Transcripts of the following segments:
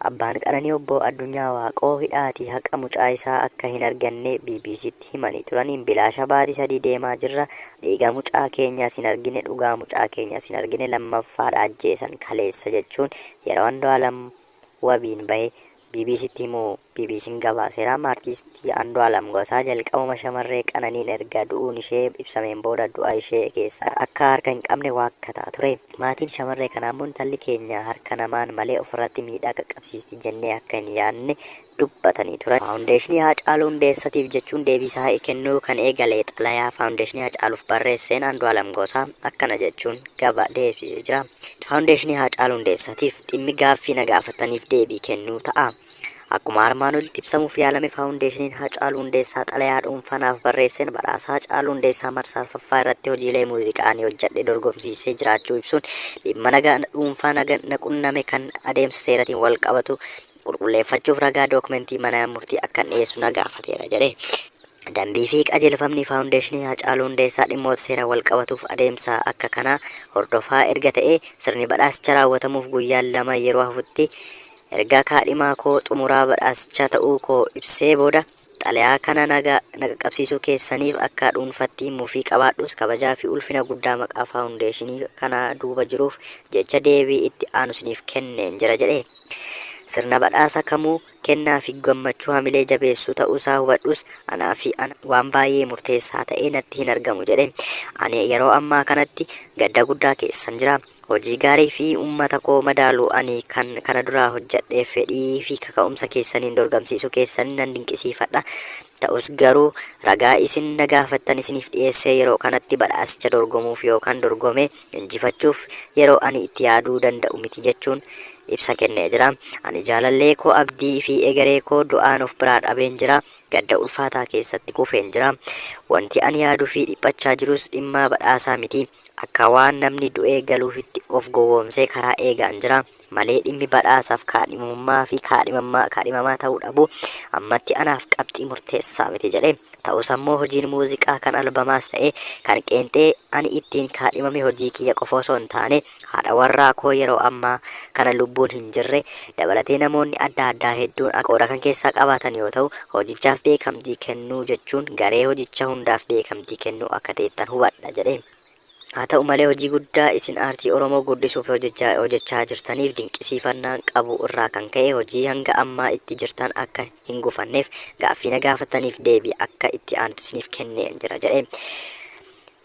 Abbaan Qananii Obbo Addunyaa Waaqoo hidhaatii haqa mucaa isaa akka hin arganne BBCtti himanii turaniin bilaasha baatii sadii deemaa jirra, dhiiga mucaa keenyas hin argine, dhugaa mucaa keenyas hin argine, lammaffaa dha ajjeesan kaleessa jechuun yeroo Andu'aalam wabiin bahe BBCtti himu. BBC'n gabaaseera. Artiistii Andu'aalam Gosaa jalqabuma shamarree Qananiin erga du'uun ishee ibsameen booda du'a ishee keessa akka harka hin qabne waakkataa ture. Maatiin shamarree kanaa immoo intalli keenya harka namaan malee ofirratti miidhaa qaqqabsiisti jennee akka hin yaadne dubbatanii turan. Faawundeeshinii Haacaaluu Hundeessatiif jechuun deebii isaa kennuu kan eegale xalayaa Faawundeeshinii Haacaaluuf barreesseen Andu'aalam Gosaa akkana jechuun gaba deebisee jira. Faawundeeshinii Haacaaluu Hundeessatiif dhimmi gaaffii na gaafattaniif deebii kennuu ta'a. Akkuma armaan olitti ibsamuuf yaalame Faawundeeshiniin Haacaaluu Hundeessaa xalayaa dhuunfaa naaf barreesseen badhaasa Haacaaluu Hundeessaa marsaa arfaffaa irratti hojiilee muuziqaa ani hojjedhe dorgomsiisee jiraachuu ibsuun dhimma nagaa dhuunfaa na qunname kan adeemsa seeratiin walqabatu qulqulleeffachuuf ragaa dookumentii mana murtii akkan dhiyeessu na gaafateera jedhe. Dambii fi qajeelfamni Faawundeeshinii Haacaaluu Hundeessaa dhimmoota seeraan walqabatuuf adeemsa akka kanaa hordofaa erga ta'ee sirni badhaasicha raawwatamuuf guyyaan lama yeroo hafutti Erga kaadhimaa koo xumuraa badhaasichaa ta'uu koo ibsee booda, xalayaa kana naga na qaqqabsiisuu keessaniif akka dhuunfatti mufii qabaadhus kabajaa fi ulfina guddaa maqaa faawundeeshinii kana duuba jiruuf jecha deebii itti aanu isiniif kenneen jira jedhe. Sirna badhaasa kamuu kennaa fi gammachuu hamilee jabeessuu ta'uu isaa hubadhus anaa fi ana waan baay'ee murteessaa ta'ee natti hin argamu jedhe. Ani yeroo ammaa kanatti gadda guddaa keessan jira. Hojii gaarii fi ummata koo madaalu ani kan kana duraa hojjadheef fedhii fi kaka'umsa keessaniin dorgamsiisuu keessan nan dinqisiifadha. Ta'us garuu ragaa isin na gaafattan isiniif dhiyeessee yeroo kanatti badhaasicha dorgomuuf yookan dorgomee injifachuuf yeroo ani itti yaaduu danda'u miti jechuun ibsa kennee jira. Ani jaalallee koo abdii fi egeree koo du'aan of biraa dhabeen jira. Gadda ulfaataa keessatti kufeen jira. Wanti ani yaaduu fi dhiphachaa jirus dhimmaa badhaasaa miti. Akka waan namni du'ee galuufitti of gowwoomsee karaa eegaan jira malee dhimmi badhaasaaf kaadhimamummaa fi kaadhimammaa, kaadhimamaa ta'uu dhabuu ammatti anaaf qabxii murteessaa miti jedhe. Ta'us ammoo hojiin muuziqaa kan albamaas ta'ee kan qeenxee ani ittiin kaadhimame hojii kiyya qofa osoo hin taane haadha warraa koo yeroo ammaa kana lubbuun hin jirre dabalatee namoonni adda addaa hedduun akka qooda kan keessaa qabaatan yoo ta'u, hojichaaf beekamtii kennuu jechuun garee hojicha hundaaf beekamtii kennuu akka ta'ettan hubadha jedhe. Haa ta'u malee hojii guddaa isin aartii Oromoo guddisuuf hojechaa jirtaniif dinqisiifannaan qabu irraa kan ka'e hojii hanga ammaa itti jirtan akka hin gufanneef gaaffii na gaafattaniif deebii akka itti aanutti isiniif kenneen jira jedhe.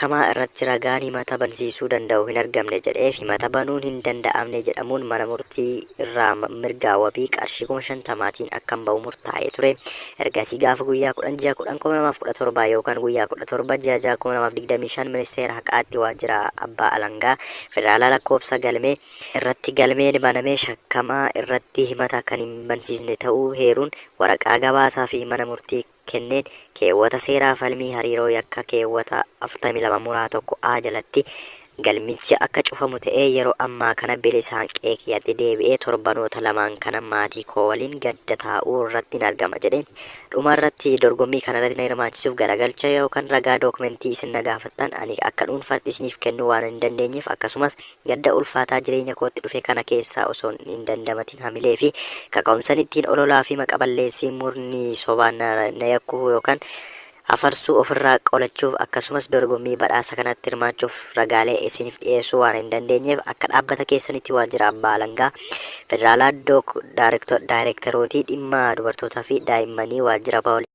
kamaa irratti ragaan himata bansiisuu danda'u hin argamne jedheef himata banuun hin danda'amne jedhamuun mana murtii irraa mirgaa wabii qarshii 50,000tiin akkan ba'u murtaa'ee ture. Ergasii gaafa guyyaa 10 ji'a 10 2017 yookaan guyyaa 17 ji'a 6 2025 Ministeera Haqaatti Waajjira Abbaa Alangaa Federaalaa lakkoofsa galmee irratti galmeen banamee shakkamaa irratti himata kan hin bansiisne ta'uu heeruun waraqaa gabaasaa fi mana murtii kenneen keewwata seeraa falmii hariiroo yakka keewwata 42 muraa 1 a jalatti galmichi akka cufamu ta'ee yeroo ammaa kana bilisaan qe'ee kiyyatti deebi'ee torbanoota lamaan kana maatii koo waliin gadda taa'uu irrattin argama jedheen dhuma irratti dorgommii kana irratti na hirmaachisuuf garagalcha yookan ragaa dookumentii isin na gaafattan ani akka dhuunfaatti isiniif kennuu waanan hin dandeenyeef akkasumas Gadda ulfaataa jireenya kootti dhufe kana keessaa osoon hin dandamatin hamilee fi kaka'umsan ittiin ololaa fi maqa balleessii murni sobaan na yakkuhu yookan afarsuu ofirraa qolachuuf akkasumas dorgommii badhaasa kanatti hirmaachuuf ragaalee isinif dhiyeessuu waan hin dandeenyeef akka dhaabbata keessanitti waajjira abbaa alangaa federaalaa dook daayirektarootii dhimma dubartootaa fi daa'immanii waajjira poolisii